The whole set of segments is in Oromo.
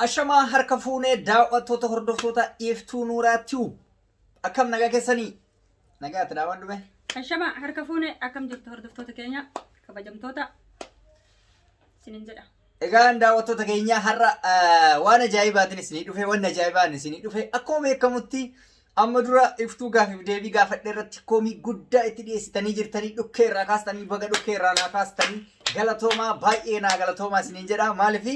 Ashamaa harka fuunee daaw'attoota hordoftoota Iftuu Nuuraa Tube akkam nagaa keessanii? Nagaa ati daawwan dhume? Ashama harka fuune akkam jirtu hordoftoota keenya kabajamtoota isinin jedha. Egaan daawwattoota keenya har'a eh, waan ajaa'ibaatiin isinii dhufe, waan ajaa'ibaan isinii dhufe. Akkuma beekamutti Amma dura iftuu gaafiif deebii gaafadhe irratti komii guddaa itti dhiyeessitanii jirtanii dhukkee irraa kaastanii baga dhukkee irraa naa kaastanii galatoomaa baay'ee naa galatoomaa isiniin jedha maaliif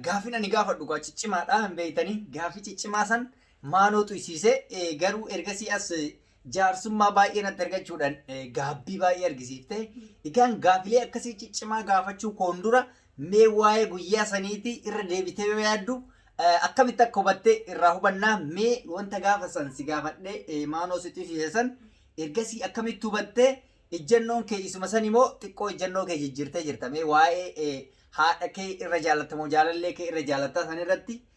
gaafin ani gaafadhu gaa ciccimaadha hin beeytanii gaafii ciccimaa san maanoo tuysiise garuu ergasii as jaarsummaa baay'ee natti argachuudhaan gaabbii baay'ee argisiifte egaan gaafilee akkasii ciccimaa gaafachuu koon dura Mee waa'ee guyyaa saniitii irra deebitee yoo yaaddu eh, akkamitti akka hubatte irraa hubannaa mee wanta gaafa san si gaafadhe eh, maanoo sitti himsiise san ergasii akkamitti hubatte ijjannoon kee isuma san immoo xiqqoo ijjannoo kee jijjiirtee jirta mee waa'ee eh, haadha kee irra jaallatamoo jaalallee kee irra jaallattaa san irratti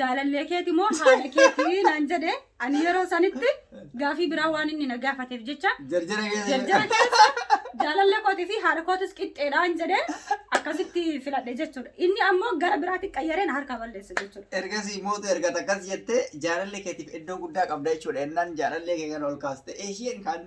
jaalallee keeti moo haadha keeti naan jedhe ani yeroo sanitti gaafii biraa waan inni na gaafateef jecha Jarjara keessa. jarjara keessa jaalallee kootii fi haadha kootis qixxeedhaan jedhe akkasitti filadhe jechuudha inni ammoo gara biraatti qayyaree na harkaa balleessa jechuudha. Ergasii mootu erga takkas jettee jaalallee keetiif iddoo guddaa qabda jechuudha. Innaan jaalallee kee kana ol kaaste. Isheen kan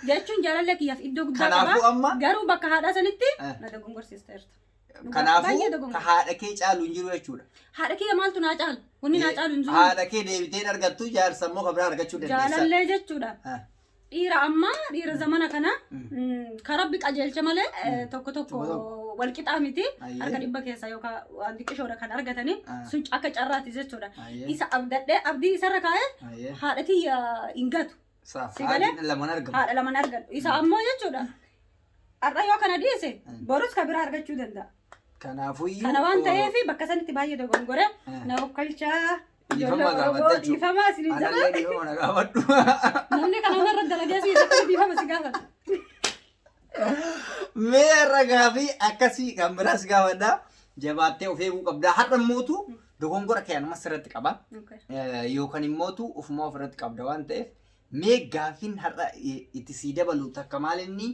jechuun jaalallee kiyyaaf iddoo guddaa Kanaafuu qaba amma- garuu bakka haadhaa sanitti Eh. na dogongorsiisteerta. Dhugaa- Kanaafuu baay'ee ka dogongora. haadha kee caalu hin jiru jechuudha. Haadha kiyya maaltu naa caalu? Wanni naa caalu hin jiru. Haadha kee deebitee hin argattu jaarsa immoo kan biraa argachuu dandeessa. Jaalallee jechuudha. Ah, Dhiira ammaa dhiira zamana kana mm, ka rabbi qajeelcha malee eh, tokko tokko Tokko tokko. wal qixaa miti Ayyee. harka dhibba keessa yookaan waan xiqqishoodha kan argatanii Ah. sun akka carraati jechuudha. Ayyee. Isa abdadhee abdii isarra kaa'ee Ayyee. haadha tiyya hin gatu. Saaf Si galee? haadha lamaan argamu. haadha lamaan argadhu isa ammoo jechuudha har'a yoo kana dhiise borus ka biraa argachuu danda'a Kanaafuu iyyuu. kana waan ta'eef bakka sanitti baay'ee dogongore Eh. na okkalchaa Dhiifama ijoollee Oromoo gaafadha jechuudha. dhiifama isin jala Anallee dhiifama na gaafadhu. namni kana irra dalagee si isa dhiifama si gaafata Mee har'a gaafii akkasii kan biraas gaafadha. Jabaattee of eeguu qabda. Har'a mootu dogongora kee anumas irratti qaba. Okay. Eh, Yookaan immootu ofuma of irratti qabda waan ta'eef mee gaafiin har'a i- itti sii dabalu takka maal inni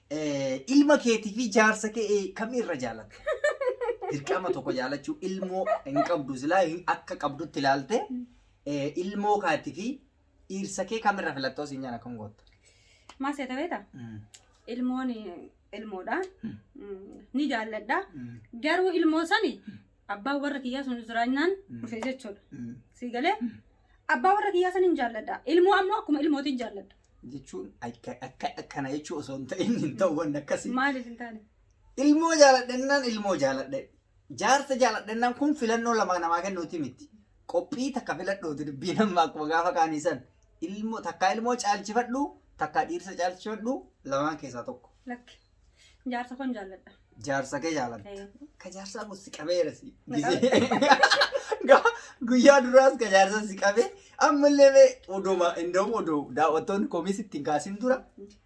eh, ilma keetii fi jaarsa kee eh, kamii irra jaalatta? Dirqama tokko jaalachuu ilmoo hin qabdu silaa hin- akka qabdutti ilaalte eh, ilmoo kaatii fi Dhiirsa kee kamirra filattoo siin jaan akkam gootta? Maa seeta beeta? Mm. Ilmoon ilmoodha. Mm. Mm, Ni jaalladha. Mm. Garuu ilmoo sani abbaan warra kiyyaa sun jiraannaan Mm. dhufe jechuudha. Mm. Sii galee abbaa warra kiyyaa san hin jaalladha. Ilmoo ammoo akkuma ilmootiin jaalladha. Jechuun akka- akka- akkana jechuu osoo hin ta'in hin ta'u wanni akkasii. Maaliif hin taane? Ilmoo jaaladhennaan ilmoo jaaladhe. Jaarsa jaaladhennaan kun filannoo lama namaa kennuuti miti. Qophii takka filadhuuti dubbiin amma akkuma gaafa kaanii san. Ilmoo takkaa ilmoo caalchifadhu takkaa dhiirsa caalchifadhu lamaan keessaa tokko. Lakki. Jaarsa koon jaalladha. Jaarsa kee jaaladha. Eh, Ka jaarsaa kun si qabeera si. Guyyaa duraas ka jaarsaa si qabe ammallee mee oduma indoom oduu daawwattoonni komiis ittiin kaasin dura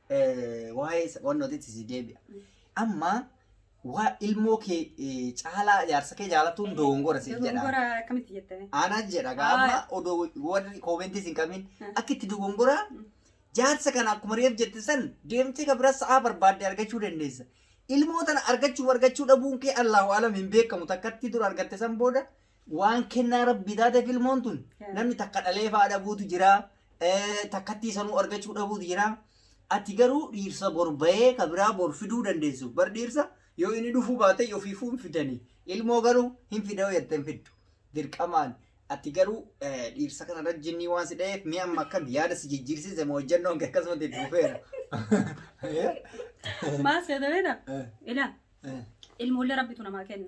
eh, waa'ee wannooti si deebi'a. Amma Waa ilmoo kee eh, caalaa jaarsa kee jaalatuun dogongora siif jedha. Dogongora akkamitti jettanii? Ana jedha Haa. gaama odoo warri koomentis hin qabin Hmm. akka itti dogongora Hmm. jaarsa kana akkuma reef jette san deemtee ka bira sa'aa barbaadde argachuu dandeessa. Ilmoo tana argachuu argachuu dhabuun kee Allahu alam hin beekamu takkatti dura argatte san booda Waan kennaa rabbii taateef ilmoon tun Yeah. namni takka dhalee fa'aa dhabuutu jira eh, takkattii sanuu argachuu dhabuutu jira ati garuu dhiirsa bor bahee ka biraa bor fiduu dandeessu bar dhiirsa yoo inni dhufuu baate ofiifuu hin fidanii ilmoo garuu hin fidau jettee hin fiddu dirqamaan ati garuu eh, dhiirsa kana irra jinnii waan si dha'eef mi'a amma akkam yaada si jijjiirsiise moo hojjannoon kee akkasumatti itti fufeera. Eh, Maal seetanidha? eh, Ilaa eh. ilmoollee rabbitu namaa kenna.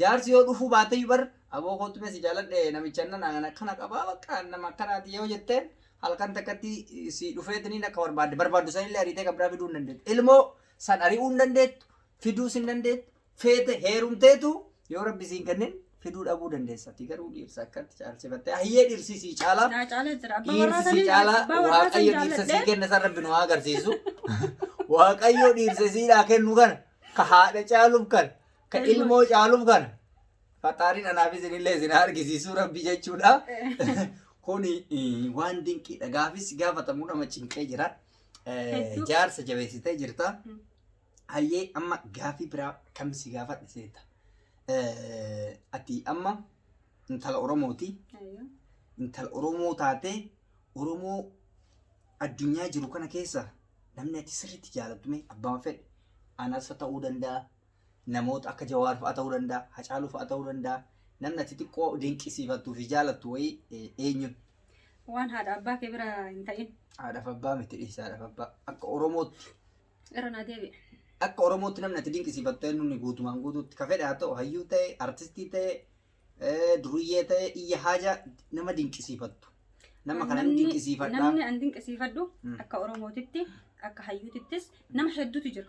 Jaarsi yoo dhufuu baateyyu bar aboo koottu mee si jaaladhe namicha nan an akkana qabaa bakka nama akkanaati yoo jetteen halkan takkatti si dhufeetiniin akka barbaadde barbaaddu sanillee ariitee kan biraa fiduu hin dandeettu. Ilmoo san ari'uu hin dandeettu, fiduus hin dandeettu, feete heerumteetu yoo rabbi siin kennin fiduu dhabuu dandeessa. Ati garuu dhiirsa akkatti caalsifattee hayyee dhiirsi sii caalaa. Naa caalaa jira. Abbaa warraa Dhiirsi sii sanii caalaa abbaa warraa san waaqayyo dhiirsa sii jaalladhe. kenna san rabbi nu haa agarsiisu. Waaqayyo dhiirsa siidhaa kennu kana ka haadha caaluuf kana Ka Ilmoo. ilmoo caaluuf kana. Faxaariin anaaf isinillee isin haa argisiisuu rabbi jechuudha. Kun eh, waan dinqiidha. Gaafis gaafatamu nama cinqee jira. Eh, Hedduu. Jaarsa jabeessitee jirta. Mm. Hayyee amma gaafii biraa kam si gaafadhe seeta. Eh, Ati amma intala Oromooti. Ayyo. Intala Oromoo taatee Oromoo addunyaa jiru kana keessa namni ati sirriitti jaalattu mee abbaan fedhe anas ta'uu danda'a namoota akka Jawaar fa'a ta'uu danda'a, Hacaaluu fa'a ta'uu danda'a. Namni ati xiqqoo dinqisiifattuu fi jaalattu wayii eh, eenyuun? Waan haadha abbaa kee bira hin ta'in. Haadhaaf abbaa miti dhiisa haadhaaf abbaa. Akka Oromootti Irra naa deebi'e. akka Oromootti namni ati dinqisiifattu eenyuun guutumaan guutuutti ka fedhe haa ta'u hayyuu ta'e, artistii ta'e, eh, duruyyee ta'e, iyya haajaa nama dinqisiifattu. Nama kana hin Namni- dinqisiifadhaa. Namni an dinqisiifadhu Mm. akka Oromootitti akka hayyuutittis nama hedduutu jira.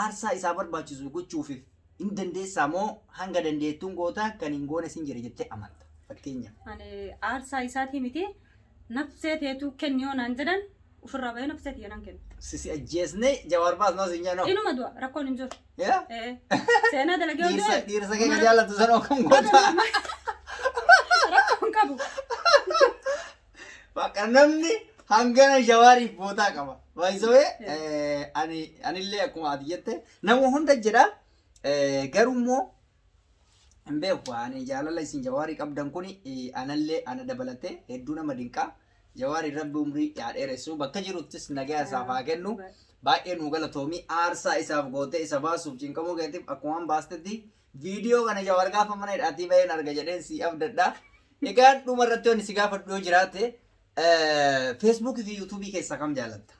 Aarsaa isaa barbaachisu gochuufif hin dandeessaa moo hanga dandeettuun goota kan hin goones hin jira jettee amanta? Fakkeenyaaf. Ani aarsaa isaatii miti nafsee teetuu kenni yoo naan jedhan ofirraa bahee nafsee tiyya nan kenna. Sisi ajjeesne jawaar baasnaa siin jedhan hoo? Inuma du'a rakkoon hin jiru. Yaa? Ee, Seenaa dalagee yoo Dhiirsa du'e dhiirsa keenya umara- jaallatu san hoo kam goota? rakkoon qabu. Bakka namni hangana jawaariif bootaa qaba. Baay'isawee ani anillee akkuma ati jette nama hunda jedha eh, garuu immoo hin beeku ani jaalala isin jawaarii qabdan kun anallee ana dabalatee hedduu nama dinqaa jawaari rabbi umrii yaa dheeressu bakka jiruttis nagaa isaaf haa kennu baay'ee nuu galatoomii aarsaa isaaf gootee isa baasuuf cinqamuu keetiif akkuma baastetti Viidiyoo kana Jawaar gaafa mana hidhaatii baheen arga jedheen si abdadha. Egaa dhuma irratti wanti si gaafadhu yoo jiraate Facebook fi YouTube keessaa kam jaalatta?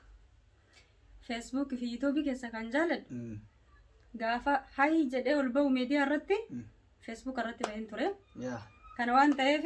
Facebook fi YouTube keessa kan jaaladhu gaafa hayi jedhee ol ba'u miidiyaa irratti Facebook irratti baheen ture. Yaa. Kana waan ta'eef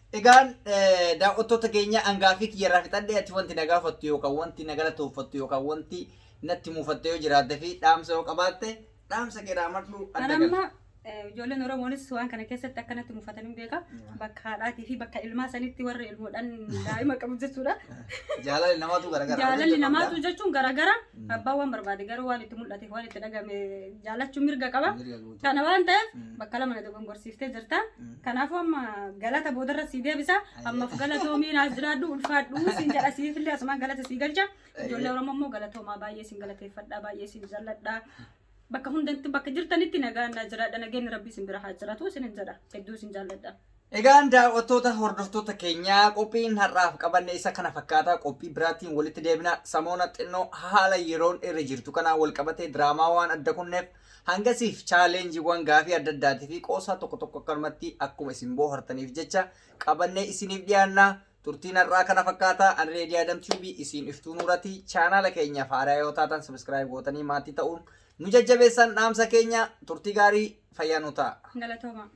Egaan daawwattoota keenya angaafii kiyya irraa fixadhe ati wanti na gaafattu yookaan wanti na galatooffattu yookaan wanti natti muufatte yoo jiraatte fi dhaamsa yoo qabaatte dhaamsa kee dhaamadhu adda Kan amma gala. eh, ijoolleen Oromoonis waan kana keessatti akkanatti mufatan hin beeka. Bakka haadhaatii fi bakka ilmaa sanitti warri ilmoodhaan daa'ima qabu jechuudha. Jaalalli namaatu garagara. Jaalalli namaatu jechuun garagara abbaan waan barbaade garuu waan itti mul'ate waan itti dhagame jaalachuun mirga qaba. Mirga Kana waan ta'eef bakka lama na dogongorsiiftee jirta. Kanaafuu amma galata boodarra sii deebisa. Ammaaf galatoomi naaf jiraadhu ulfaadhu siin jedha siifillee asumaan galata sii galcha. Ijoollee Oromoo immoo galatoomaa baay'ee siin galateeffadha baay'ee siin jalladha. Bakka hundatti bakka jirtanitti nagaan na jiraadha nageenyi rabbii siin bira haa jiratu siin jedha hedduu siin jaalladha. Egaan daawwattoota hordoftoota keenyaa qophiin har'aaf qabanne isa kana fakkaata qophii biraatiin walitti deebina samoona xinnoo haala yeroon irra jirtu kanaan wal qabatee diraamaa waan adda kunneef hangasiif chaaleenjiiwwan gaafii adda addaatii fi qoosaa tokko tokko akkanumatti akkuma isin boohartaniif jecha qabannee isiniif dhiyaanna turtiin har'aa kana fakkaata ani reedii adam tiibii isiin iftuu nuurati chaanaala keenyaaf haaraa yoo taatan sabiskiraayib gootanii maatii ta'uun nu jajjabeessan dhaamsa keenya turtii gaarii fayyaa nu ta'a. Galatoomaa.